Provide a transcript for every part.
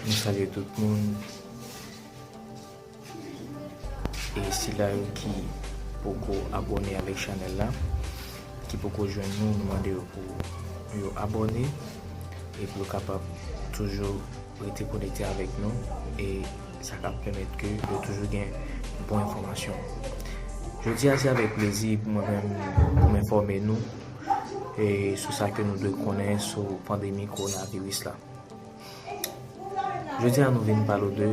Mwen salye tout moun e sila yo ki poko abone avèk chanèl la ki poko jwenn nou nou mande yo pou yo abone e pou yo kapab toujou Rete konekte avèk nou e sa ka pèmèt ke ou toujou gen bon enfòmasyon. Jodi a se avèk plezi pou mwen menm pou m enfòme nou e sou sa ke nou dwe konnen sou pandemi kowonaviris la. Jodi a nou vin pale w de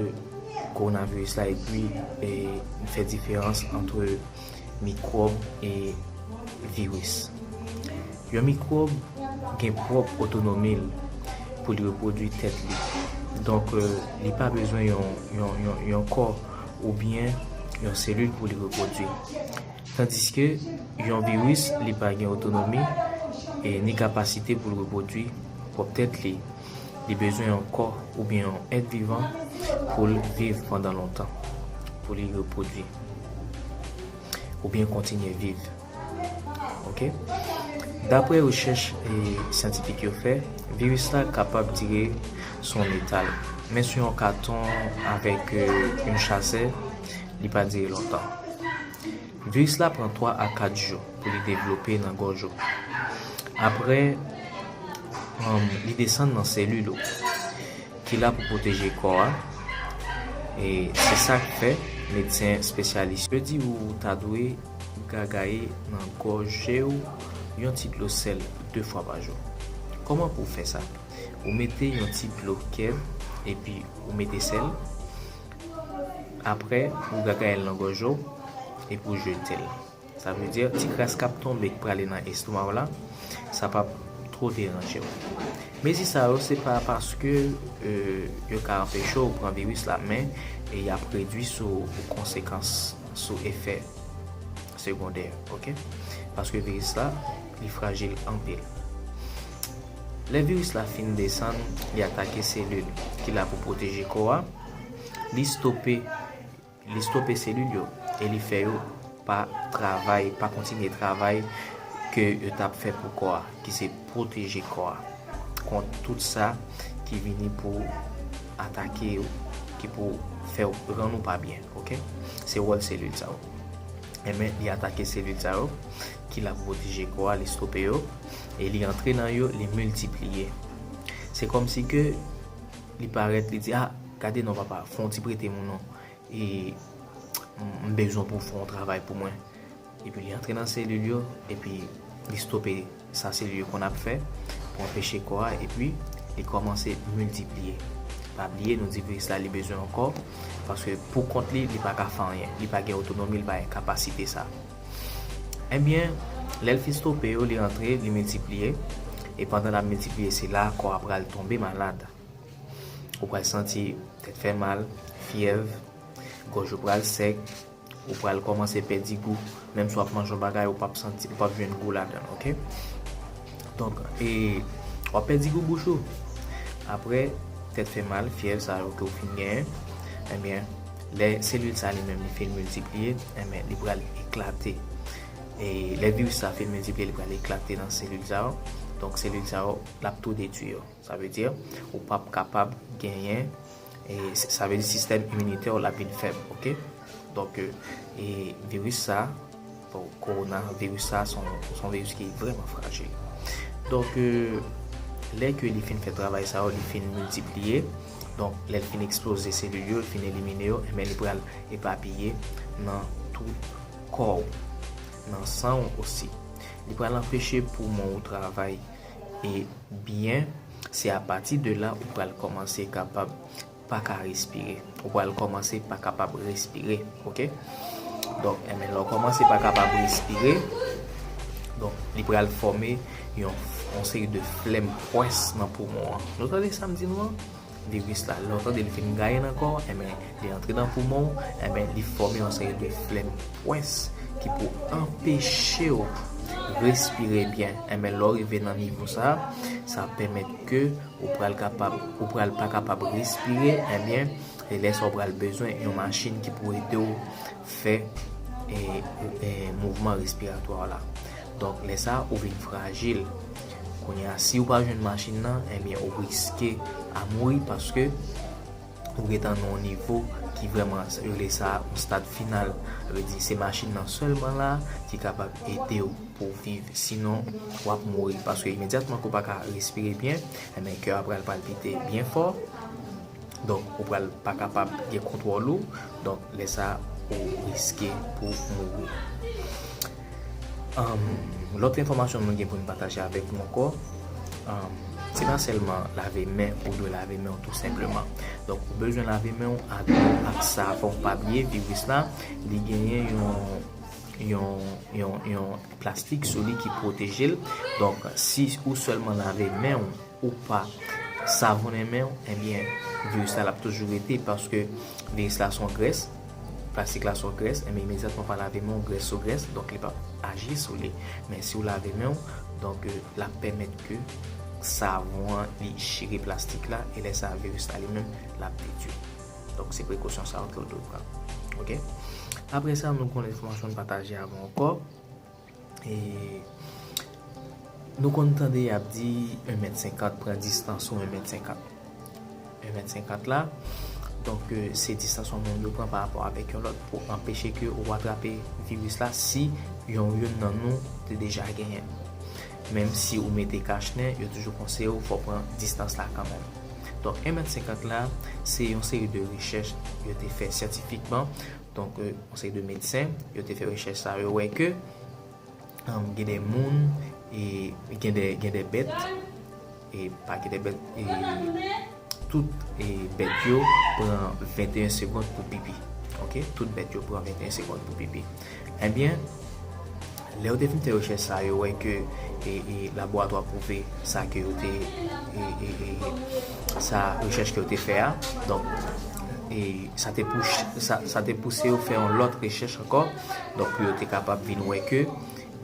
kowonaviris la epi fè diferans antre mikwòb e viris. Yon mikwòb gen pwòp otonomi l pou li repwodui tèt li. Donk, li pa bezwen yon kò oubyen yon selil pou li repwodui. Tandiske, yon viris li pa gen otonomi e ni kapasite pou l repwodui pwòp tèt li. Li bezwen yon kò oubyen yon èt vivan pou l viv pandan lontan, pou li repwodui oubyen kontinye viv. Ok. Dapre rechèch syantifik yo fè, viris la kapab dire sou yon metal, men sou yon katon avèk yon chasè, li pa dire lontan. Viris la pran 3 a 4 jou pou li devlope nan gòj ou. Aprè, li desann nan selil ou ki la pou pwoteje kò a. E se sa k fè, medsen espesyalis yo di ou ta dwe gagaye nan gòje ou yon ti dlo sèl 2 fwa pa jou. Kòman pou w fè sa? Ou mete yon ti dlo kèd epi ou mete sèl. aprè ou gagayel nan gòj ou epi ou jetel sa vle di ti kras kap tonbe ki prale nan estomaw la sa pap twò deranjew mezi sa yo se pa paske yo ka anpeche ou pran viris la men yap redwi sou konsekans sou efè segondè ok paske viris la li frajil anpil lè viris la fin desann li atake selil ki la pou pwoteje kò a. li stope li stope selil yo e li fè yo pa travay, pa kontinye travay ke yo t ap fè pou kò a, ki se pwoteje kò a kont tout sa ki vini pou atake yo, ki pou fè yo rann ou pa byen, ok se wòl selil sa yo enben li atake selil sa yo ki la pou pwoteje kò a, li stope yo e li antre nan yo, li miltipliye se kòmsi ke. Li parèt, li di, ah, gade non papa, fè yon ti prete m ou non. E m bezwen w pou w fè yon travay pou mwen. Epi li antre nan selil yo, epi li stope sa selil yo konn ap fè pou anpeche kò a, epi li kòmanse miltipliye. Pa bliye, nou di viris la li bezwen yon kò, paske pou kont li, li pa ka fè anyen. Li pa gen otonomi, li pa gen kapasite sa. Ebyen, lè l fin stope yo, li antre, li miltipliye, e pandan l ap miltipliye se la kò a pral tonbe malad. Ou pral santi tèt fè mal, fyèv, gòj ou pral sèk, ou pral kòmanse pèdi gou, menm si w ap manje yon bagay ou pap santi, ou pap jwenn gou ladan l ok. Donk e w ap pèdi gou bouch ou. Aprè tèt fè mal, fyèv sa yo ke w fin genyen, ebyen Lè selil sa li menm li fin miltipliye, enben li pral eklate. E lè viris sa fin miltipliye li pral eklate nan selil sa yo. Donk selil sa yo l ap tou detui yo. Sa vle di ou p ap kapab genyen, sa vle di sistèm iminitè w l ap vin fèb ok. Donk viris sa. Korona viris sa son viris ki vreman frajil. Donk lè ke li fin fè travay sa yo, li fin miltipliye, donk lè li fin eksploze selil yo, li fin elimine yo, enben li pral epapiye nan tout kò ou, nan san ou osi. Li pral anpeche poumon ou travay e byen, se apati de la ou pral kòmanse kapab. paka respire ou pral kòmanse pa kapab respire ok donk enben lè w kòmanse pa kapab respire donk li pral fòme yon seri de flèm pwès nan poumon an nou tande sa m di nou an viris la lè w tande li fin gaye nan kò w enben li antre nan poumon w enben li fòme yon seri de flèm pwès ki pou anpeche w respire byen enben lè w rive nan nivo sa sa pèmèt ke Ou pral kapab, ou pral pa kapab respire, ebyen se lè sa ou pral bezwen yon machin ki pou ede w fè mouvman respiratwa w la. Donk lè sa ou vin frajil. Kounye a si ou pa jwenn machin nan, ebyen ou riske a mouri paske. Ou gentan nan yon nivo ki vrèman yo rele sa yon stad final. Sa vle di se machin nan sèlman la ki kapab ede w pou w viv sinon w ap mouri paske imedyatman ke w pa ka respire byen enben kè a pral palpite byen fò donk ou pral pa kapab gen kontwòl ou donk lè sa ou riske pou w mouri. Lòt enfòmasyon mwen gen pou m pataje avèk nou ankò, se pa sèlman lave men ou dwe lave men ou tou senpleman. Donk ou bezwen lave men ou ak dlo ak savon. Pa bliye viris la, li genyen yon plastik sou li ki pwoteje l. Donk si ou sèlman lave men ou, ou pa savonnen men ou, ebyen viris la l ap toujou rete paske viris la son grès. Plastik la sou grès, enben imedyatman pa lave men w, grès sou grès, donk li p ap aji sou li. Men si w lave men w, donk l ap pèmèt ke savon an li chire plastik la e lè sa viris la li menm l ap detui. Donk se prekosyon sa yo ke w dwe pran. Ok. Aprè sa nou konn enfòmasyon nou pataje avè w ankò. E nou konn tande y ap di 1 mèt 50 pran distans ou 1 mèt 50. 1 mèt 50 la, donk se distans yon moun yo pran pa rapò avèk yon lòt pou anpeche ke ou atrape viris la si yon youn nan nou te deja genyen l. Menm si ou mete kach nen, yo toujou konseye ou fò w pran distans la kanmèm. Donk 1 mèt 50 la, se yon seri de rechèch yo te fè syantifikman Donk yon seri de medsen yo te fè rechèch sa yo wè ke gen de moun e gen de bèt e pa gen de bèt e tout bèt yo pran 21 segond pou pipi ok tout bèt yo pran 21 segond pou pipi ebyen Lè yo te fin fè rechèch sa yo wè ke laboratwa pwouve sa ke yo te sa rechèch ke yo te fè a donk sa te pouse yo fè yon lòt rechèch ankò donk pou yo te kapab vin wè ke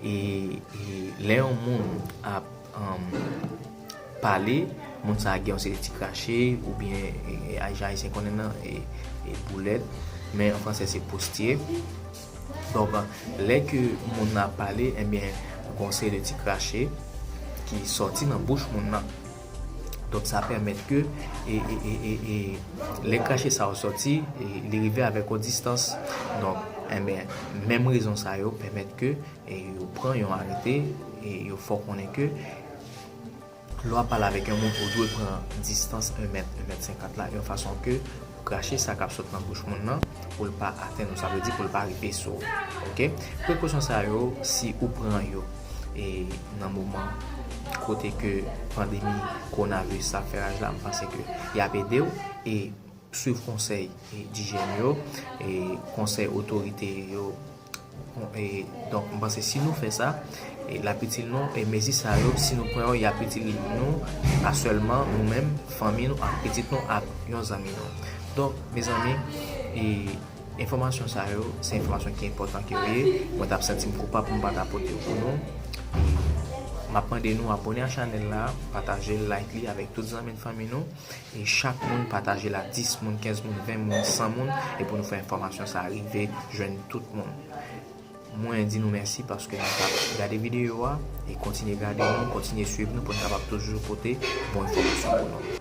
lè yon moun ap pale moun sa gen yon seri ti krache oubyen jan ayisyen konnen nan boulèt men an fransè se postye. Donk lè ke moun nan ap pale enbyen gon seri de ti krache ki sòti nan bouch moun nan. Donk sa pèmèt ke e lè krache sa yo sòti li rive avèk yon distans. Donk enbyen menm rezon sa yo pèmèt ke yo pran yon arete e yo fè w konnen ke. Lè w ap pale avèk yon moun, ou dwe pran distans 1 mèt, 1 mèt 50 la, yon fason ke pou krache sa k ap sot nan bouch moun nan, pou l pa atenn ou, sa vle di pou l pa rive sou ou. Ok. Prekosyon sa yo, si ou pran yo e nan moman kote ke pandemi kowonaviris la ap fè raj la, m panse ke y ap ede w e Swiv konsèy dijyèn yo, konsèy otorite yo, donk m panse si nou fè sa l ap itil nou, e mezi sa yo si nou pran yo y ap itil nou pa sèlman nou menm, fanmi nou ak pitit nou ak yon zanmi nou. Donk mezanmi enfòmasyon sa yo se enfòmasyon ki enpòtan ke yo ye, mwen t ap santi m koupab pou m pa ta pote yo pou nou, m ap mande nou abòne ak chanèl la, pataje l, like li avèk tout zanmi n fanmi nou. Nou chak moun pataje la 10 moun 15 moun 20 moun 100 moun e pou nou fè enfòmasyon sa rive jwenn tout moun mwen di nou mèsi paske nou tap gade video a e kontinye gade nou kontinye swiv nou poun kapab toujou pote bon enfòmasyon pou nou.